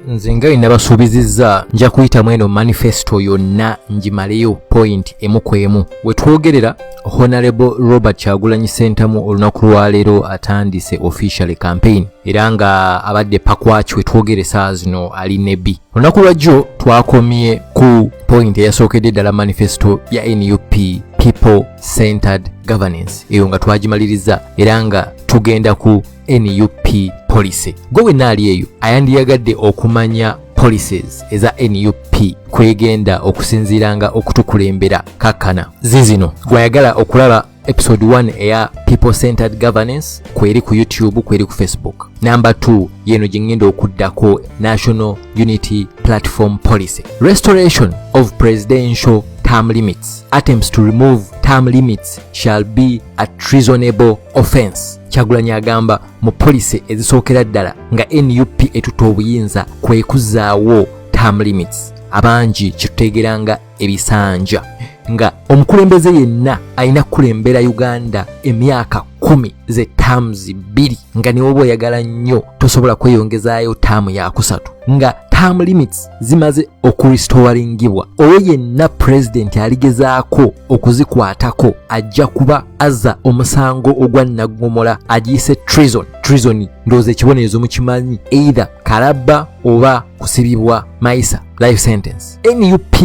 nze nga bye nabasuubizizza nja kuyitamu eno manifesto yonna ngimaleyo point emu ku emu we twogerera honorable robert kyagulanyi sentamu olunaku lwaleero atandise officially campaign era nga abadde pakwaki we twogere saa zino ali nebi olunaku lwajjo twakomye ku point eyasookedde ddala manifesto ya nup people centered governance eyo nga twagimaliriza era nga tugenda ku nup policy gwe wenna ali eyo ayandiyagadde okumanya policies eza nup kwegenda okusinziiranga okutukulembera kakkana zizino gwayagala okulaba episode 1 eya people centered governance kweri ku youtube kweri ku facebook number 2 yeno gyengenda okuddako national unity platform policy restoration of presidential term limits attempts to remove term limits shall be a treasonable offense kyagulanyi agamba mu policy ezisookera ddala nga nup etuta obuyinza kwekuzaawo term limits abangi kitutegeranga ebisanja nga omukulembeze yenna alina kukulembera uganda emyaka kumi ze taamuzi bbiri nga newoba oyagala nnyo tosobola kweyongezaayo taamu yakusatu nga term limits zimaze okurestoringibwa oyo yenna pulezidenti aligezaako okuzikwatako ajja kuba aza omusango ogwa naggomola agiyise trison trison ndowooza ekibonerezo mukimanyi either kalabba oba kusibibwa mayisa life sentence nup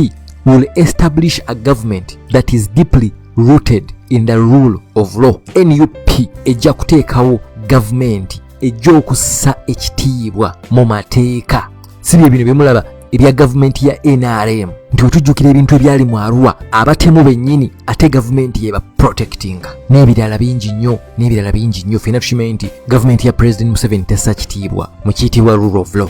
will establish a government that is deeply rooted in the rule of law nup ejja kuteekawo gavumenti ejja okussa ekitiibwa mu mateeka si bye bino byemulaba ebya gavumenti ya nrm nti wetujjukira ebintu ebyali mu arua abatemu bennyini ate gavumenti yeba protectinga n'ebirala bingi nnyo n'ebirala bingi nnyo fena tukimanyi nti gavumenti ya president museveni tessa kitiibwa mu kiyitibwa rule of law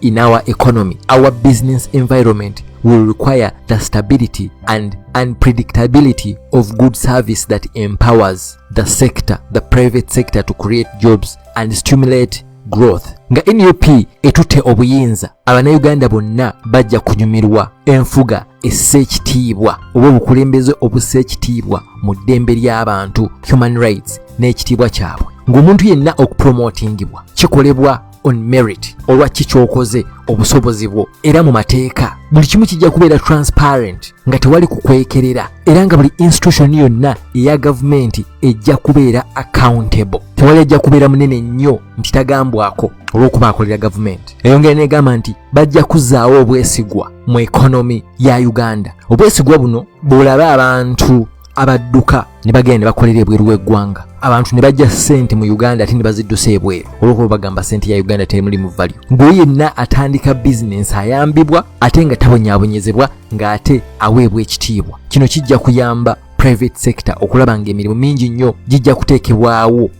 in our economy, our business environment will require the stability and unpredictability of good service that empowers the sector, the private sector to create jobs and stimulate growth nga nup etutte obuyinza abanauganda bonna bajja kunyumirwa enfuga essa ekitiibwa oba obukulembeze obussa ekitiibwa mu ddembe ly'abantu human rights n'ekitiibwa kyabwe ng'omuntu yenna okupromotingibwa kikolebwa on merit olwa kiki kyokoze obusobozi bwo era mu mateeka buli kimu kijja kubeera transparent nga tewali kukwekerera era nga buli institution yonna eya gavumenti ejja kubeera accountable tewali ajja kubeera munene nnyo nti tagambwako olw'okuba akolera gavumenti eyongera negamba nti bajja kuzaawo obwesigwa mu ekonomi ya uganda obwesigwa buno bwolaba abantu abadduka ne bagenda ne bakolera ebweru w'eggwanga abantu ne bajja ssente mu uganda ate ne baziddusa ebweru olwokuba bagamba ssente ya uganda teri mulimu valyo ng'oyo yenna atandika bizinensi ayambibwa ate nga tabonyabonyezebwa ng'ate aweebwa ekitiibwa kino kijja kuyamba private sector okulaba ng'emirimu mingi nnyo gijja kuteekebwawo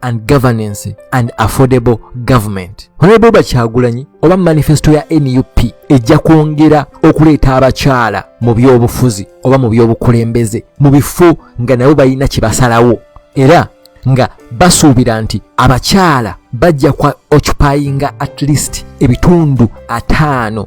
and governance and affordable government honorable bakyagulanyi oba manifesto ya nup ejja kwongera okuleeta abakyala mu byobufuzi oba mu byobukulembeze mu bifo nga nabo balina kye basalawo era nga basuubira nti abakyala bajja kwa occupyinga at least ebitundu ataano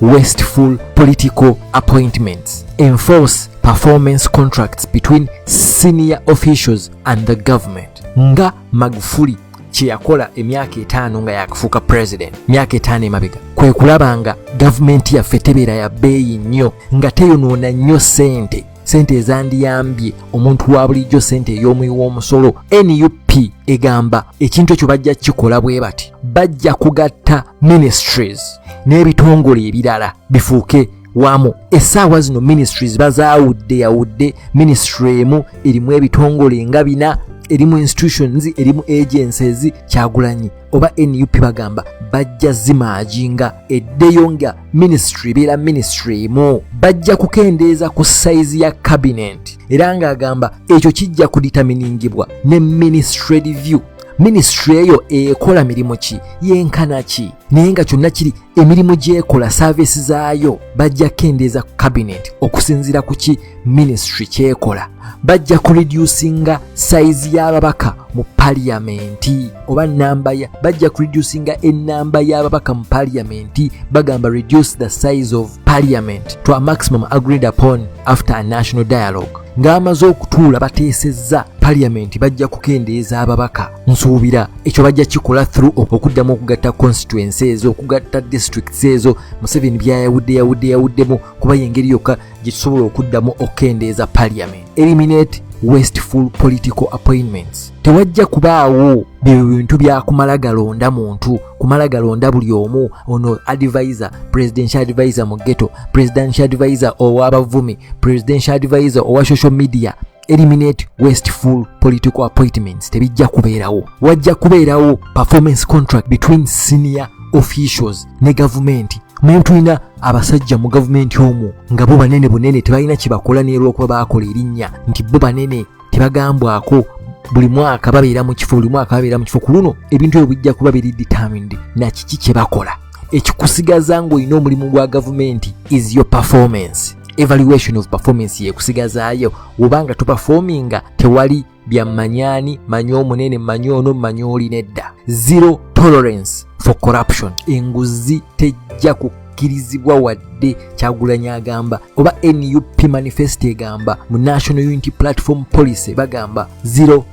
wasteful political appointments enforce performance contracts between senior officials and the government nga magufuli kyeyakola emyaka etaano nga yakufuuka president myaka etaano emabega kwe kulaba nga gavumenti yaffe tebeera ya bbeeyi nnyo nga teyonoona nnyo ssente sente ezandiyambye omuntu wa bulijjo sente ey'omuyi w'omusolo nup egamba ekintu ekyo bajja kukikola bwe bati bajja kugatta ministries n'ebitongole ebirala bifuuke wamu essaawa zino ministries bazaawudde yawudde ministry emu erimu ebitongole nga bina erimu institutions erimu agencies kyagulanyi oba nup bagamba bajja zimaaji nga eddeyo nga minisitule ebeera minisitule emu bajja kukendeeza ku sayizi ya kabinenti era ng'agamba ekyo kijja kuditaminingibwa ne minisitule review minisitule eyo ekola mirimu ki yenkana ki naye nga kyonna kiri emirimu gyekola saaviisi zaayo bajja kukendeeza ku kabinenti okusinziira ku ki minisitule kyekola bajja kureducinga sayizi y'ababaka mu paliyamenti oba namba ya bajja kureducinga enamba y'ababaka mu paliyamenti bagamba reduce the size of parliament to a maximum agreed upon after a national dialogue ng'amaze okutuula bateesezza paliyamenti bajja kukendeeza ababaka nsuubira ekyo bajja kikola through okuddamu okugatta constituency ezo okugatta districts ezo museveni byayawudde yawudde yawuddemu kuba yengeri yokka gye tusobola okuddamu okukendeeza parliament eliminate wasteful political appointments tewajja kubaawo byo bintu byakumala galonda muntu kumala galonda buli omu ono advisor presidential advisor mu ghetto presidential advisor owabavumi presidential advisor owa social media eliminate wasteful political appointments tebijja kubeerawo wajja kubeerawo performance contract between senior officials ne gavumenti muye tulina abasajja mu gavumenti omwo nga bo banene bunene tebalina kyebakola neerwokuba baakola erinnya nti bo banene tebagambwako buli mwaka babeera mu kifo buli mwaka babeera mu kifo ku luno ebintu ebyo bijja kuba biri determined na kiki kye bakola ekikusigaza ng'olina omulimu gwa gavumenti is your performance evaluation of performance yekusigazaayo wobanga tuperforminga tewali bya manyani manya omunene manya ono manya oli nedda zero tolerance for corruption enguzi tejja ku kirizibwa wadde kyagulanyi agamba oba nup manifesto egamba mu national unity platform policy bagamba zero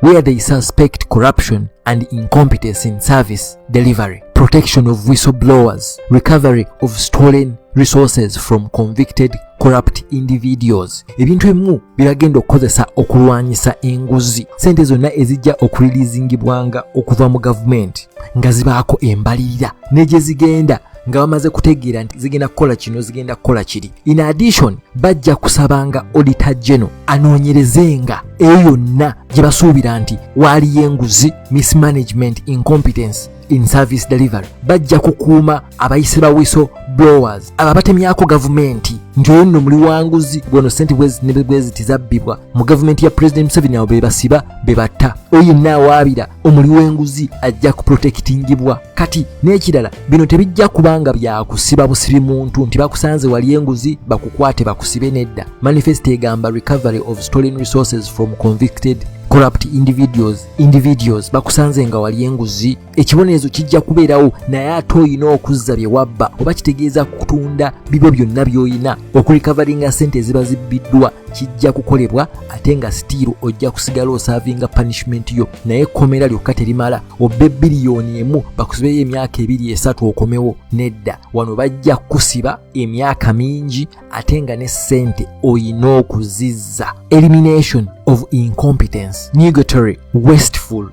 where they suspect corruption and incompetence in service delivery, protection of whistleblowers, recovery of stolen resources from convicted corrupt individuals ebintu ebimu biragenda okukozesa okulwanyisa enguzi sente zonna ezijja okulilizingibwanga okuva mu gavumenti nga zibaako embalirira ne gye zigenda nga bamaze kutegeera nti zigenda kukola kino zigenda kukola kiri in addition bajja kusabanga odita geno anoonyerezenga eyo yonna gye basuubira nti waaliyo enguzi mismanagement incompetence in service delivery bajja kukuuma abayise bawiso blowers abo abatemyako gavumenti nti oyo nno muli wanguzi gweno sente bweziti zabbibwa mu gavumenti ya pulezidenti museveni abo bebasiba bebatta oyo yenna awaabira omuli w'enguzi ajja kuprotekitingibwa kati n'ekirala bino tebijja kubanga byakusiba busibi muntu nti bakusanze wali enguzi bakukwate bakusibe nedda manifesto egamba recovery of stolen resources from convicted corrupt individuals individuals bakusanze nga wali enguzi ekibonerezo kijja kubeerawo naye ate olina okuzza bye wabba oba kitegeeza kutunda bibyo byonna by'olina okulikavaringa sente eziba zibbiddwa kijja kukolebwa ate nga sitiiru ojja kusigala osaavinga punishment yo naye ekkomera lyokka terimala obbe biliyoni emu bakusibeyo emyaka ebiri esatu okomewo nedda wano bajja kukusiba emyaka mingi ate nga ne ssente olina okuzizza elimination of incompetence nugatory wasteful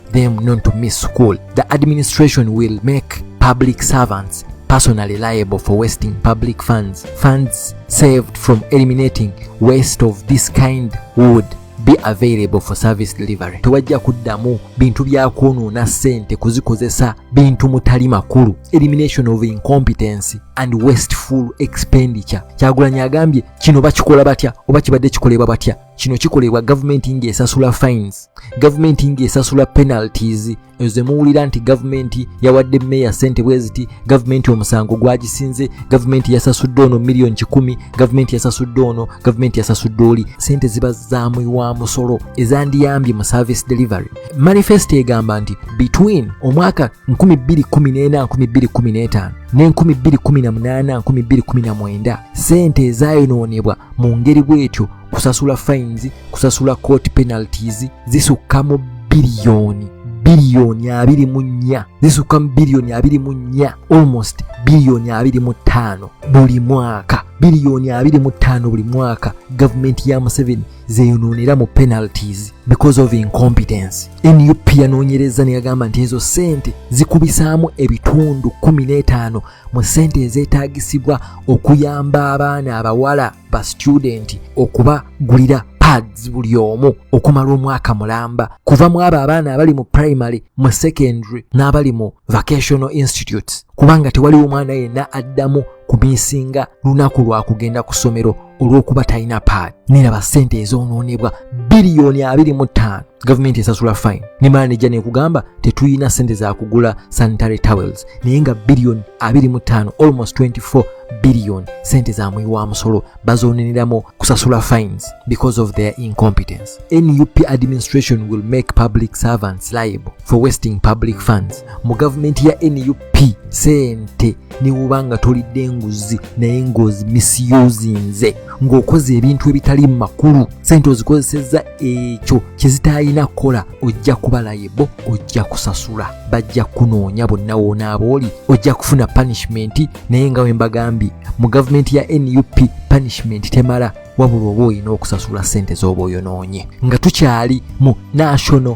them not to miss school. The administration will make public servants personally liable for wasting public funds. Funds saved from eliminating waste of this kind would be available for service delivery. Tewajja kuddamu bintu bya kwonoona ssente kuzikozesa bintu mutali makulu. Elimination of incompetency and wasteful expenditure. Kyagulanyi agambye kino bakikola batya oba kibadde kikolebwa batya? kino kikolebwa gavumenti ng'esasula fines gavumenti ng'esasula penalties ezo zemuwulira nti gavumenti yawadde meeya sente bwe ziti gavumenti omusango gwagisinze gavumenti yasasudde ono miliyoni kikumi gavumenti yasasudde ono gavumenti yasasudde oli sente ziba zamuyiwa musolo ezandiyambye mu service delivery manifesto egamba nti between omwaka 214 ne 218 sente ezayonoonebwa mu ngeri bw'etyo kusasula fines kusasula court penalties zisukka mu biliyoni biliyoni abiri mu nnya zisukka mu biliyoni abiri mu nnya almost biliyoni abiri mu ttaano buli mwaka biliyoni abiri mu ttaano buli mwaka gavumenti ya museveni zeyonoonera mu penalties because of incompetence nup yanoonyereza neyagamba nti ezo ssente zikubisaamu ebitundu kumi n'etaano mu ssente ezeetaagisibwa okuyamba abaana abawala ba situdenti okubagulira pads buli omu okumala omwaka mulamba kuva mu abo abaana abali mu primary mu secondary n'abali mu vocational institutes kubanga tewaliwo omwana yenna addamu kumisinga lunaku lwa kugenda ku ssomero olw'okuba talina paad neraba ssente ezoonoonebwa biliyoni 25 gavumenti esasula fine nemala nejja nekugamba tetuyina sente zakugula sanitary towels naye nga billion 25 almost 24 billion sente zamuyi wa musolo bazoneneramu kusasula fines because of their incompetence nup administration will make public servants liable for wasting public funds mu gavumenti ya nup pi sente newuba nga tolidde enguzi naye ngozi misiyuzinze ng'okoze ebintu ebitali mu makulu sente ozikozesezza ekyo kyezitayina kukola ojja kubalaye bo ojja kusasula bajja kunoonya bonna woonaaba oli ojja kufuna punishmenti naye nga wembagambye mu gavumenti ya nup punishmenti temala wabula oba olina okusasula sente z'oba oyonoonye nga tukyali mu national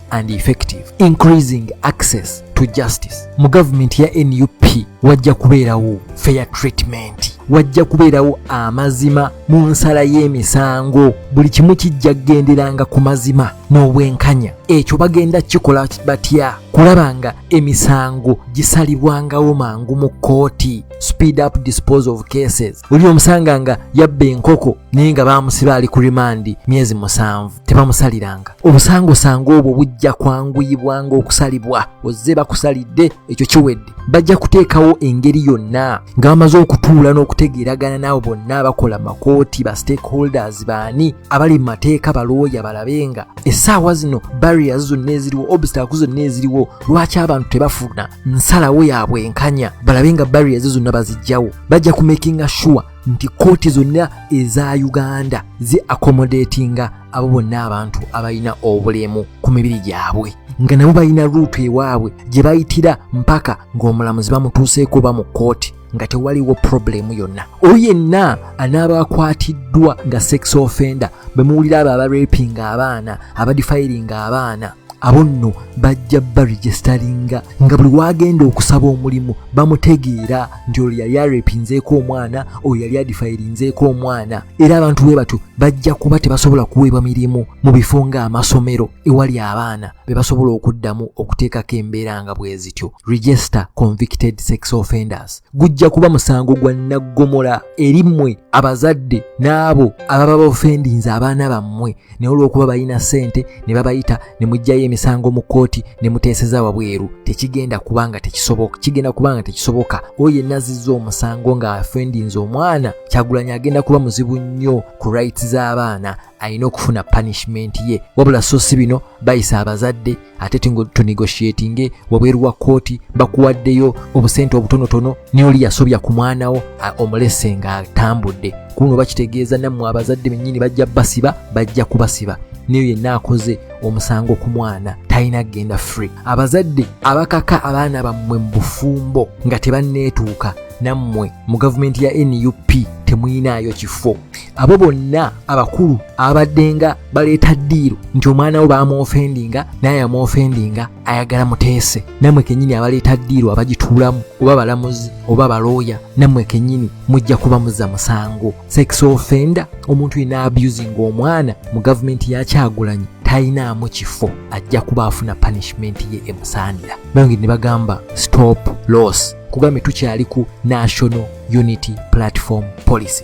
and effective increasing access to justice mu gavumenti ya nup wajja kubeerawo fair treatment wajja kubeerawo amazima mu nsala y'emisango buli kimu kijja kugenderanga ku mazima n'obwenkanya ekyo bagenda kikola batya kulaba nga emisango gisalibwangawo mangu mu kkooti speed up dispose of cases oli omusanga nga yabba enkoko naye nga baamusiba ali ku rimandi myezi musanvu tebamusaliranga obusangosango obwo bujja kwanguyibwanga okusalibwa ozze bakusalidde ekyo kiwedde bajja kuteekawo engeri yonna nga bamaze okutuula n'okutegeeragana naabo bonna abakola makooti ba stakeholders baani abali mu mateeka balooya balabe nga essaawa zino barriers zonna eziriwo obstacle zonna eziriwo lwaki abantu tebafuna nsalawo yaabwe enkanya balabe nga barriers zonna bazijjawo bajja kumakinga sure nti kooti zonna eza uganda zi accommodatinga abo bonna abantu abalina obulemu ku mibiri gyabwe nga nabo balina luutu ewaabwe gye bayitira mpaka ng'omulamuzi bamutuuseeko ba mu kooti nga tewaliwo problemu yonna oyo yenna anaaba akwatiddwa nga sex offender bemuwulira abo abarepinga abaana abadifayiringa abaana abo nno bajja baregisitalinga nga buli waagenda okusaba omulimu bamutegeera nti olwo yali arepinzeeko omwana oyo yali adifayirinzeeko omwana era abantu bwe batyo bajja kuba tebasobola kuweebwa mirimu mu bifo ng'amasomero ewali abaana be basobola okuddamu okuteekako embeera nga bwe zityo register convicted sex offenders gujja kuba musango gwa naggomola eri mmwe abazadde n'abo ababa bafendinze abaana bammwe naye olw'okuba balina ssente ne babayita ne muggyayo emisango mu kkooti ne muteeseza wabweru tekigenda kuba nga tekisoboka kigenda kuba nga tekisoboka oyo yenna azizza omusango nga afendinze omwana kyagulanyi agenda kuba muzibu nnyo ku rights z'abaana alina okufuna punishment ye wabula so si bino bayisa abazadde ate tunegotiatinge wabweru wa kooti bakuwaddeyo obusente obutonotono naye oli yasobya ku mwana wo omulese ng'atambudde kuno bakitegeeza nammwe abazadde bennyini bajja basiba bajja kubasiba neyo yenna akoze omusango ku mwana talina kugenda free abazadde abakaka abaana bammwe mu bufumbo nga tebanneetuuka nammwe mu gavumenti ya nup temuyinaayo kifo abo bonna abakulu abaddenga baleeta ddiiro nti omwana wo bamwofendinga naye amwofendinga ayagala muteese namwe kenyini abaleeta ddiiro abagituulamu oba balamuzi oba balooya namwe kenyini mujja kuba muza musango sex offender omuntu yina abusinga omwana mu gavumenti yakyagulanyi talinaamu kifo ajja kuba afuna punishment ye emusaanira bayongeri ne bagamba stop loss kugambye tukyali ku national unity platform policy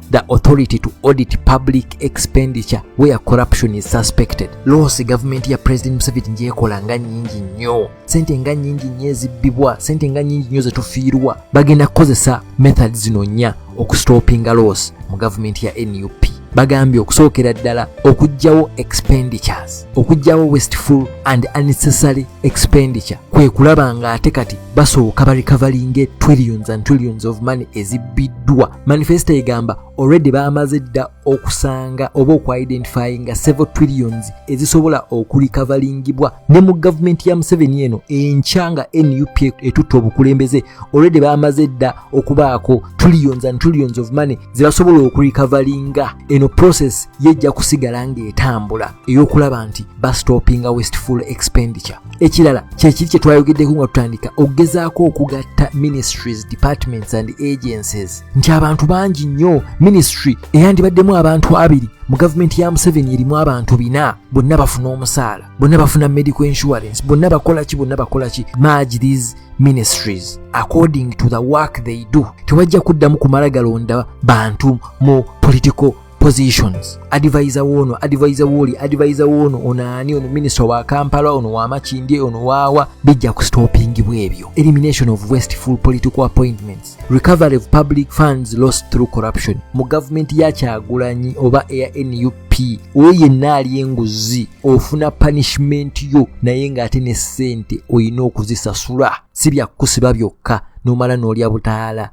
the authority to audit public expenditure where corruption is suspected losi gavumenti ya president museveni njekola nga nyingi nnyo sente nga nyingi nnyo ezibbibwa sente nga nyingi nnyo zetufiirwa bagenda kukozesa method zino nnya okustopinga losi mu gavumenti ya nup bagambye okusookera ddala okugyawo expenditures okugyawo wasteful and unnecessary expenditure kwe kulaba ng'ate kati basooka barecoveringe trillions and trillions of money ezibbiddwa manifesto egamba already baamaze dda okusanga oba okuidentifyinga several trillions ezisobola okulikavaringibwa ne mu gavumenti ya museveni eno enkya nga nup etutte obukulembeze already baamaze dda okubaako trillions and trillions of money zebasobola okulikavaringa eno process yejja kusigala ng'etambula ey'okulaba nti bastopinga westful expenditure ekirala kyekiri kye twayogeddeko nga tutandika okugezaako okugatta ministries departments and agencies nti abantu bangi nnyo ministry eyandibaddemu abantu abiri mu gavumenti ya museveni erimu abantu bina bonna bafuna omusaala bonna bafuna medical insurance bonna bakola ki bonna bakola ki marge these ministries according to the work they do tewajja kuddamu kumala galonda bantu mu political positions advisor woono advisor wooli advisor woono ono ani ono minisita wa kampala ono wa makindye ono waawa bijja ku stoppingibwa ebyo elimination of wasteful political appointments recovery of public funds lost through corruption mu gavumenti ya kyagulanyi oba eya nup nti oyo yenna ali enguzi ofuna punishment yo naye ng'ate ne ssente olina okuzisasula si byakukusiba byokka nomala n'olya butaala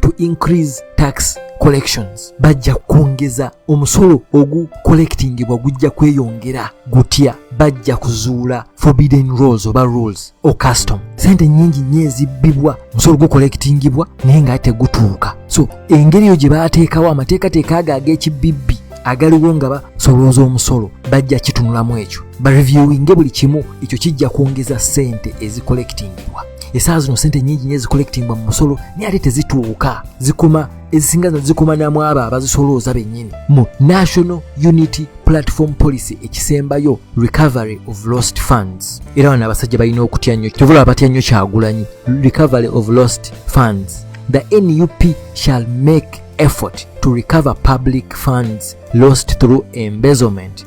to increase tax collections bajja kwongeza omusolo ogu collectingibwa gujja kweyongera gutya bajja kuzuula forbidden rules oba rules o custom sente nyingi nnyo ezibbibwa musolo gu collectingibwa naye nga tegutuuka so engeri eyo gye baateekawo amateekateeka ago ag'ekibibbi agaliwo nga basolooza omusolo bajja kitunulamu ekyo bareviewinge buli kimu ekyo kijja kwongeza sente ezicollectingibwa esaa zino sente nyingi nyo ezikolekitingwa mu musolo naye ate tezituuka zikoma ezisinga zino zikoma namwabo abazisolooza bennyini mu national unity platform policy ekisembayo recovery of lost funds era bano abasajja balina okutya nnyo kyovula abatya nnyo kyagulanyi recovery of lost funds the nup shall make effort to recover public funds lost through embezzlement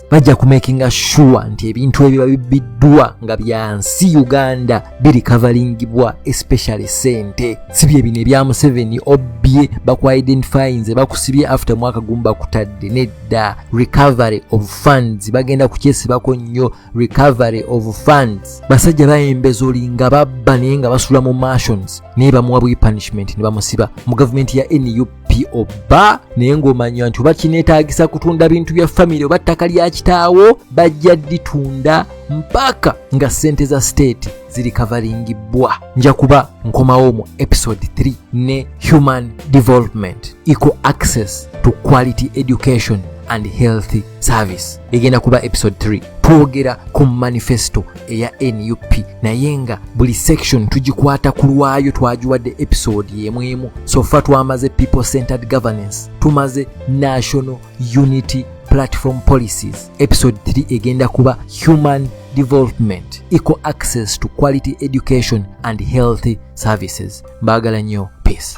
bajja kumakinga sure nti ebintu ebiba bibbiddwa nga byansi uganda birikavalingibwa especially sente si byebino ebya museveni obbye bakuidentifyinze bakusibye after mwaka gumu bakutadde nedda recovery of funds bagenda kukyesibako nnyo recovery of funds basajja bayembeza olinga babba naye nga basula mu martions naye bamuwa bwi punishment ne bamusiba mu gavumenti ya nup po ba naye ng'omanya nti oba kineetaagisa kutunda bintu bya famire oba ttaka lya kitaawo bajja ditunda mpaka nga ssente za state ziri kavalingibbwa nja kuba nkomawo mu episode 3 ne human development equal access to quality education and healthy service egenda kuba episode 3 twogera ku manifesto eya nup naye nga buli section tugikwata ku lwayo twagiwadde episode yemwemu sofa twamaze people centered governance tumaze national unity platform policies episode 3 egenda kuba human development equal access to quality education and healthy services mbaagala nnyo peace